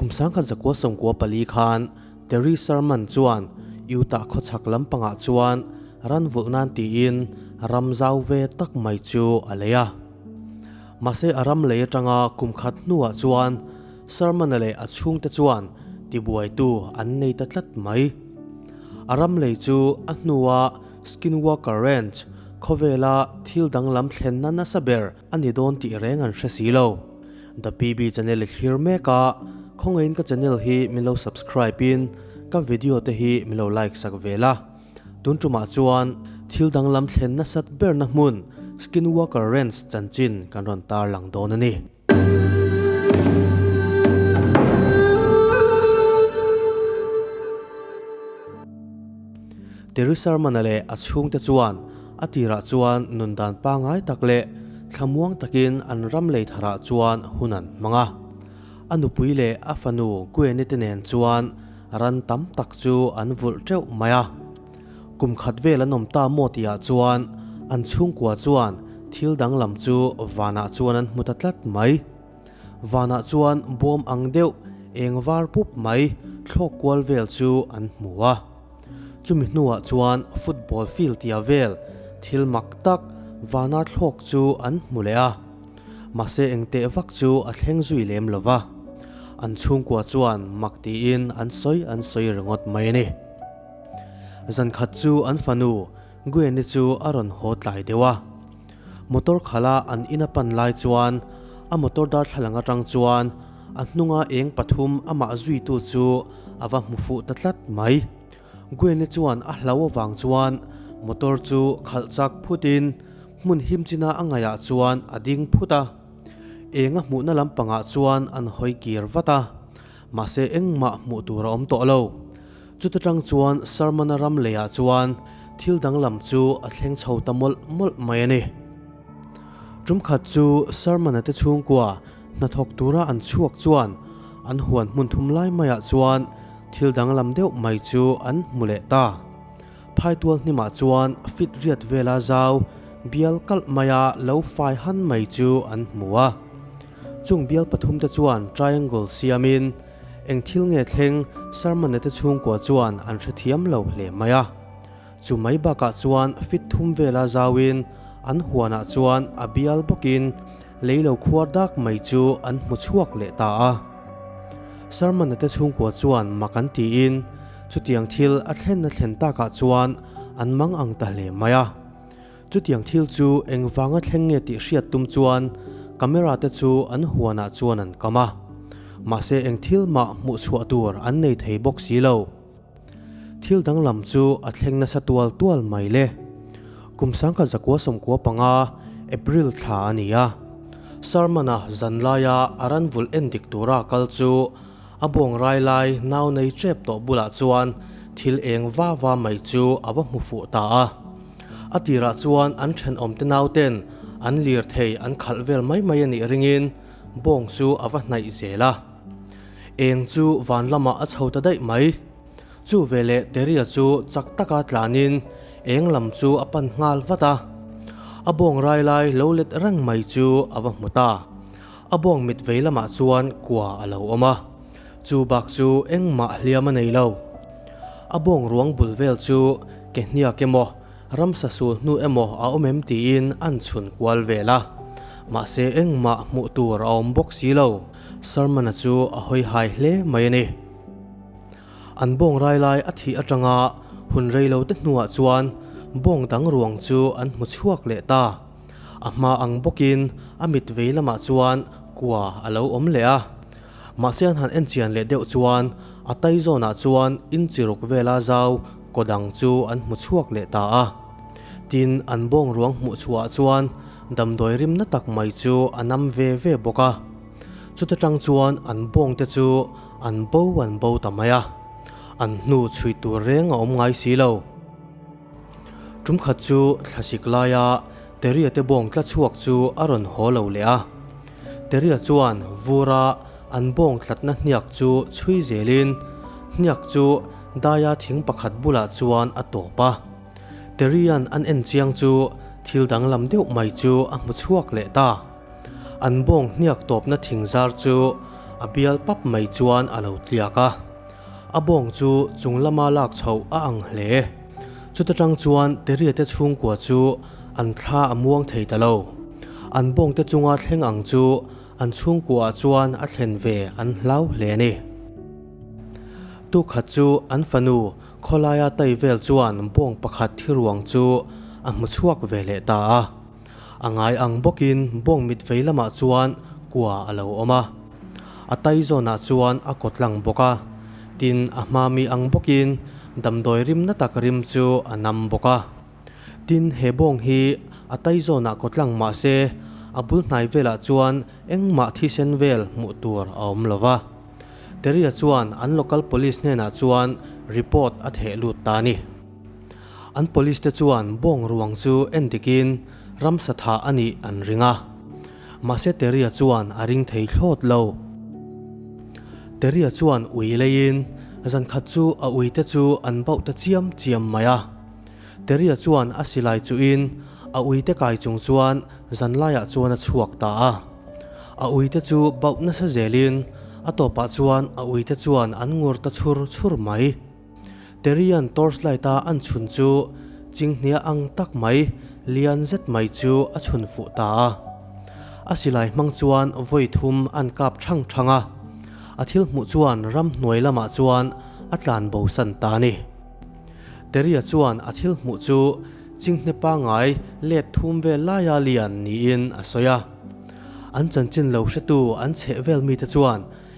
Kum sangkhat zakua sawmkua pali khan Terry Sherman chuan Utah khawchhak lampangah chuan ran vulh nan tiin ram zau ve tak mai chu a lei a. Mahse a ram lei atanga kum khat hnuah chuan Sherman-a leh a chhungte chuan tibuaitu an nei ta tlat mai. A ram lei chu a hnua Skinwalker Ranch khawvela thil danglam thlenna nasa ber A ni dawn tih reng an hre si lo. The PB Channel i thlir mek a, khawngaiin ka channel hi min lo subscribe in ka video te hi min lo like sak ve la. Tun tumah chuan thil danglam thlen nasat berna hmun Skinwalker Ranch chanchin kan rawn tar lang dawn a ni. Terusalmana leh a chhungte chuan a tirah chuan nun dan pangai tak leh thlamuang takin an ram lei tharah chuan hun an hmang a. A nupui leh a fanu Guenite nen chuan ran tam tak chu an vulh teuh mai a. Kum khat vel an awm ta maw tihah chuan an chhungkua chuan thil dang lam chu vanah chuan an hmu ta tlat mai. Vanah chuan bawm ang deuh, eng var pup mai thlawk kual vel chu an hmu a. Chumi hnuah chuan football field tia vel thil mak tak vana thlawk chu an hmu leh a, mahse engteh vak chu a thleng zui lem lo va, an chhungkua chuan mak tiin an sawi an sawi ringawt mai a ni. Zankhat chu an fanu Guyeni chu a rawn haw tlai deuh a. Motor khala an in a pan lai chuan a motor darthlalang atang chuan a hnunga eng pathum a mah zuitu chu a va hmu fuh ta tlat mai. Guene chuan a hlau avang chuan motor chu khalh chak phut in hmun him china a ngaih ah chuan a ding phut a. Enga hmuhna lampangah chuan an hawi kir vat a. Mahse engmah hmuh tur a awm tawh lo. Chuta tang chuan Sarmana ram leiah chuan thil danglam chu a thleng chho ta mawlh mawlh mai a ni. Tumkhat chu Sarmana te chhungkua hnathawk tura an chhuak chuan an huan hmun thum lai maiah chuan thil danglam deuh mai chu an hmu leh ta. Phaitual hnimah chuan fit riat vela zau bial kalh maia lo fai han mai chu an hmu a. Chung bial pathum te chuan triangle siamin eng thil nge thleng Sarmanne te chhungkua chuan an hrethiam lo hle mai a. Chu mai bakah chuan fit thum vela zauin an huanah chuan a bial bawkin lei lo khuar dak mai chu an hmu chhuak leh ta a. Sarmanne te chhungkua chuan mak an tiin, Chutiang thil a thlenna thlen takah chuan an mang ang ta hle mai a. Chutiang thil chu engvanga thleng nge tih hriat tum chuan camera te chu an huanah chuan an kam a. Mahse eng thil mah hmuh chhuah tur an nei thei bawk si lo. Thil danglam chu a thleng nasa tual tual mai le. Kum sangkhat zakua sawmkua panga April thla a ni a. Sarmana zanlaia a ran vul en dik tura kal chu A buangrai lai nau nei chep tawh bulah chuan thil eng va va mai chu a va hmu fuh ta a. A tirah chuan an thenawmte naute'n an lirthei an khalh vel mai mai a nih ringin bawng chu a va hnaih zel a. Eng chu van lamah a chho ta daih mai. Chu ve leh Teria chu chak taka tlanin eng lam chu a pan nghal vat a. A buangrai lai lo let reng mai chu a va hmu ta. A bawng mit vei lamah chuan kua a lo awm a, chu bak chu engmah hliam a nei lo. A bawng ruang bul vel chu ke hniak emaw, ramsa sul hnu emaw a awm em tiin an chhun kual vel a. Mahse engmah hmuh tur a awm bawk si lo. Sarmana chu a hawi hai hle mai a ni. An bawng rai lai a thih atanga hun rei lo te hnuah chuan bawng dang ruang chu an hmu chhuak leh ta. A hma ang bawkin a mit vei lamah chuan kua a lo awm leh a. Mahse an han en chian leh deuh chuan a tai zawnah chuan in chi ruk vela zau kaw dang chu an hmu chhuak leh ta a. Tin, an bawng ruang hmuh chhuah chuan damdawi rimna tak mai chu a nam ve ve bawk a. Chuta tang chuan an bawng te chu an bo an bo ta mai a, an hnu chhui tur reng a awm ngai si lo. Tumkhat chu thlasik laia Teria te bawng tla chhuak chu a rawn haw lo leh a. Teria chuan vura an bawng tlatna hniak chu chhui zelin hniak chu daia thing pakhat bulah chuan a tawp a. Terian an en chiang chu thil danglam deuh mai chu a hmu chhuak leh ta. An bawng hniak tawpna thingzar chu a bial pap mai chuan a lo tliak a. A bawng chu chung lama lak chhoh a ang hle. Chuta tang chuan Teriate chhungkua chu an thla a muang thei ta lo. An bawng te chunga thleng ang chu an chhungkuaah chuan a thlen ve an hlau hle a ni. Tukhat chu an fanu khawlaia tai vel chuan bawng pakhat thiruang chu a hmu chhuak ve leh ta a. A ngai ang bawkin bawng mit vei lamah chuan kua a lo awm a, a tai zawnah chuan a kaw tlang bawk a, tin a hma mi ang bawkin damdawi rim na tak rim chu a nam bawk a. Tin, he bawng hi a tai zawnah kaw tlang mahse a bul hnai velah chuan engmah thisen vel hmuh tur a awm lo va. Teria chuan an local police hnenah chuan report a theh lut ta a ni. An police te chuan bawng ruang chu en dikin ramsa tha a nih an ring a. Mahse Terry-a chuan a ring thei thlawt lo. Terry-a chuan ui leiin zan khat chu a ui te chu an bauh ta chiam chiam mai a. Terry-a chuan a silai chuhin a ui te kai chung chuan zan laiah chuan a chhuak ta a. A ui te chu bauh nasa zelin a tawpah chuan a ui te chuan an ngur ta chhur chhur mai. Terian torchlight a an chhun chu chinghnihah ang tak mai, lian zet mai chu a chhun fuh ta a. A silai hmang chuan vawi thum an kap thang thang a, a thil hmuh chuan ram hnuai lamah chuan a tlan bo san ta ni. Teria chuan a thil hmuh chu chinghne pangai let thum vel laia lian niin a sawi a. An chanchin lo hretu an chheh vel mite chuan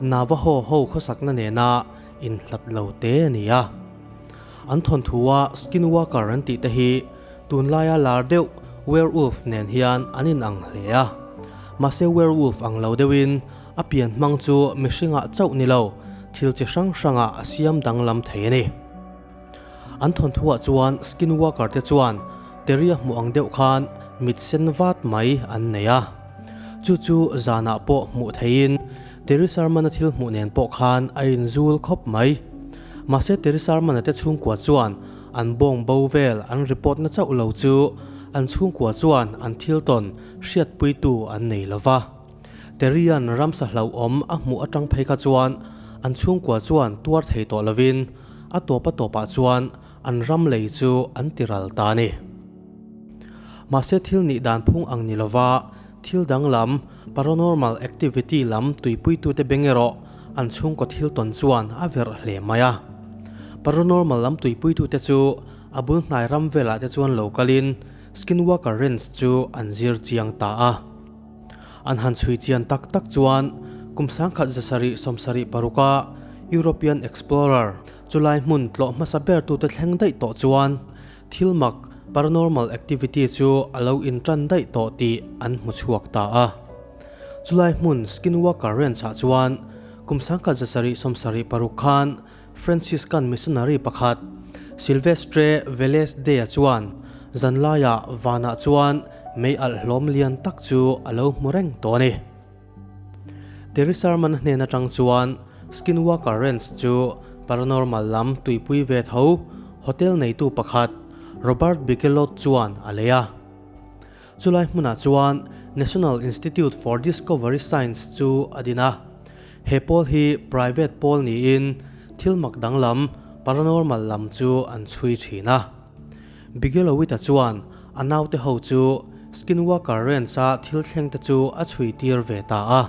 Navaho ho khawsakna nena in hlat lo te a ni a. An thawnthu a Skinwalker an tihte hi tunlaia lar deuh Werewolf nen hian an inang hle a. Mahse Werewolf ang lo deuhin a pian hmang chu mihringah chauh ni lo thil chi hrang hrangah a siam danglam thei a ni. An thawnthuah chuan Skinwalker te chuan Terry a hmuh ang deuh khan mit sen vat mai an nei a. Chu chu zanah pawh hmuh theihin Terry Sharmana thil hmuh nen pawh khan a inzul khawp mai. Mahse Terry Sharmana te chhungkua chuan an bawng bo vel an report na chauh lo chu an chhungkua chuan an thil tawn hriatpuitu an nei lo va. Terian ramsa hlauhawm a hmuh atang phei kha chuan an chhungkua chuan tuar thei tawh lovin a tawpa tawpah chuan an ram lei chu an ti ral ta ni. Mahse thil nih dan phung ang ni lova, thil danglam, paranormal activity, lam tuipuitute beng erawh an chhungkaw thil tawn chuan a verh hle mai a. Paranormal lam tuipuitute chu a bul hnai ram velah te chuan lo kalin Skinwalker Ranch chu an zir chiang ta a. An han chhui chian tak tak chuan kum sangkhat za sarih sawm sarih paruka European explorer chulai hmun tlawh hmasa bertute thleng daih tawh chuan thil mak, paranormal activity, chu a lo in tan daih tawh tih an hmu chhuak ta a. Chulai hmun Skinwalker Ranch-ah chuan kum sangkhat za sarih sawm sarih paruk khan Franciscan missionary pakhat, Silvestre Velez de-a chuan zanlaia vanah chuan mei alh hlawm lian tak chu a lo hmu reng tawh a ni. Teresa man hnen atang chuan Skinwalker Ranch chu paranormal lam tuipui ve tho hotel neitu pakhat, Robert Bigelot chuan a lei a. Chulai hmunah chuan National Institute for Discovery Science chu a din a, he pawl hi private pawl niin thil mak danglam, paranormal lam, chu an chhui thin a. Bigelow-ita chuan a naute ho chu Skinwalker Ranch-a thil thlengte chu a chhuitir ve ta a.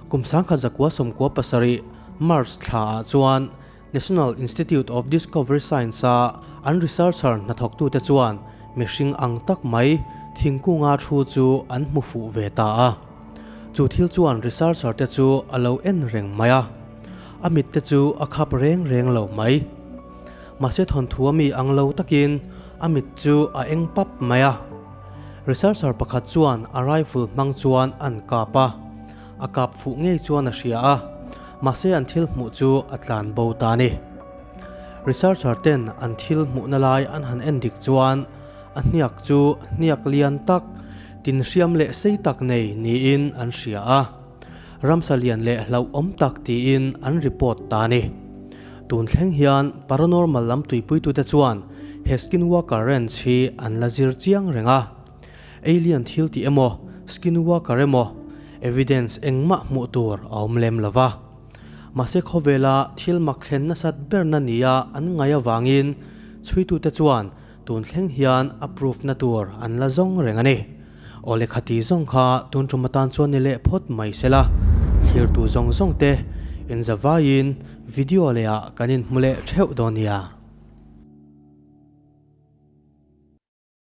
Kum sangkhat zakua sawmkua pasarih March thla-ah chuan National Institute of Discovery Science-a an researcher hnathawktute chuan mihring ang tak mai thingkunga thu chu an hmu fuh ve ta a. Chu thil chuan researcher te chu a lo en reng mai a, a mitte chu a khap reng reng lo mai. Mahse thawnthu a mi ang lo takin a mit chu a eng pap mai a. Researcher pakhat chuan a rifle hmang chuan a an kap a. A kap fuh ngei chuan a hria a, mahse an thil hmuh chu a tlan bo ta ni. Researcher ten an thil hmuhna lai an han en dik chuan a hniak chu hniak lian tak, tinhriam leh sei tak nei niin an hria a, ramsa lian leh hlauhawm tak tiin an report ta ni. Tun thleng hian paranormal lam tuipui tute chuan he skinwalker ranch hi an la zir chiang reng a. Alien thil tih emaw, skinwalker emaw, evidence engmah hmuh tur a awm lem lo va. Mahse khawvela thil mak thlen nasat berna nia an ngaih avangin chhuitute chuan tun thleng hian a proof na tur an la zawng reng a ni. Aw le khati zawng kha tun ṭum atan chuan ni leh phawt mai se la, thlirtu zawng zawng te in za vaiin video leh ah kan in hmu leh ṭheuh dawn nia.